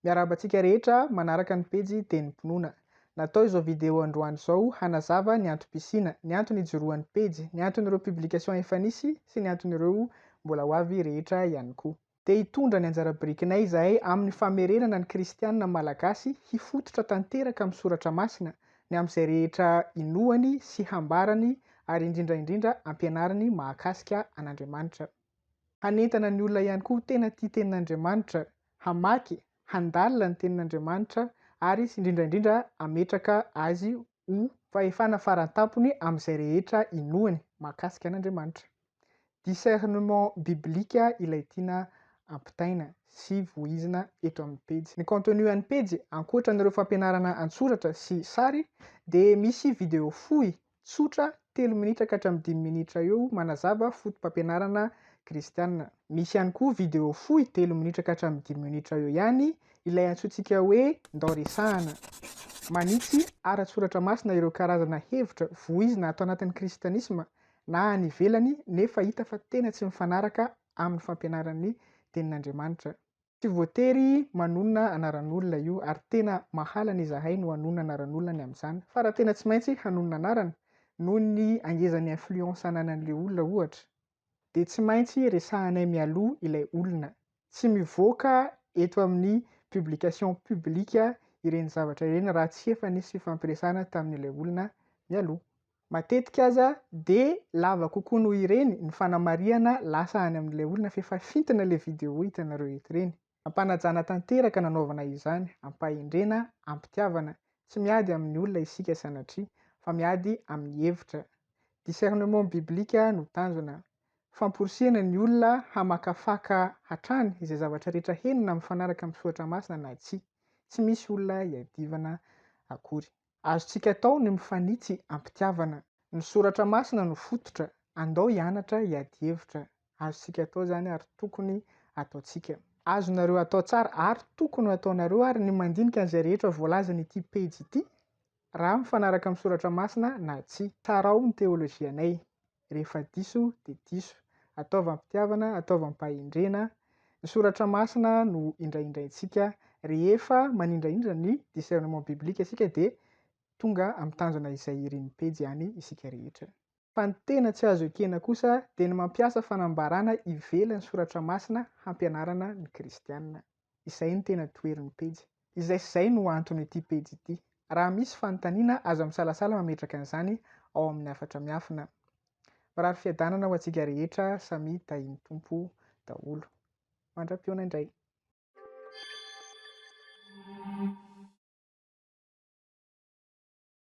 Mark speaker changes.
Speaker 1: Miarahaba antsika rehetra manaraka ny pejy Tenim-pinoana. Natao izao video androany izao hanazava ny antom-pisiana, ny antony ijoroan'ny pejy, ny anton'ireo publication efa nisy sy ny anton'ireo mbola ho avy rehetra ihany koa. Te hitondra ny anjara birikinay izahay amin'ny famerenana ny kristiana malagasy hifototra tanteraka amin'ny soratra masina ny amin'izay rehetra inoany sy hambarany ary indrindra indrindra ampianariny mahakasika an'Andriamanitra. Hanentana ny olona ihany koa tena tia tenin'Andriamanitra, hamaky, handalina ny tenin'Andriamanitra ary sy indrindra indrindra hametraka azy ho. Fahefana faran-tampony amin'izay rehetra inoany mahakasika an'Andriamanitra. Discernement biblique ilay tiana ampitaina sy voizina eto amin'ny pejy. Ny contenu an'ny pejy, ankoatra an'ireo fampianarana an-tsoratra sy sary, dia misy video fohy, tsotra, telo minitra ka hatramin'ny dimy minitra eo manazava fotopampianarana kristiana. Misy ihany koa video fohy, telo minitra ka hatramin'ny dimy minitra eo ihany, ilay antsointsika hoe Ndao Resahana. Manitsy ara-tsoratra masina ireo karazana hevitra voizina ato anatin'ny kristianisma na any ivelany nefa hita fa tena tsy mifanaraka amin'ny fampianaran'ny Tenin'Andriamanitra. Tsy voatery manonona anaran'olona io ary tena mahalana izahay no hanonona anaran'olona ny amin'izany fa raha tena tsy maintsy hanonona anarana noho ny hangezan'ny influence ananan'ilay olona ohatra dia tsy maintsy resahanay mialoha ilay olona. Tsy mivoaka eto amin'ny publication publique ireny zavatra ireny raha tsy efa nisy fifampiresahana tamin'ilay olona mialoha. Matetika aza dia lava kokoa noho ireny ny fanamarihana lasa any amin'ilay olona fa efa fintina ilay vidéo hitanareo eto ireny. Am-panajana tanteraka no anaovana izany, am-pahendrena, am-pitiavana. Tsy miady amin'ny olona isika sanatria, fa miady amin'ny hevitra. Discernement biblique no tanjona. Famporisihana ny olona hamakafaka hatrany izay zavatra rehetra henona mifanaraka amin'ny soratra masina na tsia. Tsy misy olona iadivana akory. Azontsika atao ny mifanitsy am-pitiavana. Ny Soratra Masina no fototra. Andao hianatra hiady hevitra. Azontsika atao izany ary tokony hataontsika. Azonareo atao tsara ary tokony ho ataonareo ary ny mandinika an'izay rehetra voalazan'ity pejy ity, raha mifanaraka amin'ny Soratra Masina na tsia. Tsarao ny teolojianay. Rehefa diso dia diso. Ataovy am-pitiavana, ataovy am-pahendrena. Ny soratra masina no indraindraintsika. Rehefa manindraindra ny discernement biblique isika dia tonga amin'ny tanjona izay irin'ny pejy ihany isika rehetra. Fa ny tena tsy azo ekena kosa dia ny mampiasa fanambarana ivelan'ny soratra masina hampianarana ny kristiana. Izay no tena toherin'ny pejy. Izay sy izay no anton'ity pejy ity. Raha misy fanontaniana, aza misalasala mametraka an'izany ao amin'ny hafatra miafina. Mirary fiadanana ho antsika rehetra samia tahin'ny Tompo daholo. Mandra-pihaona indray.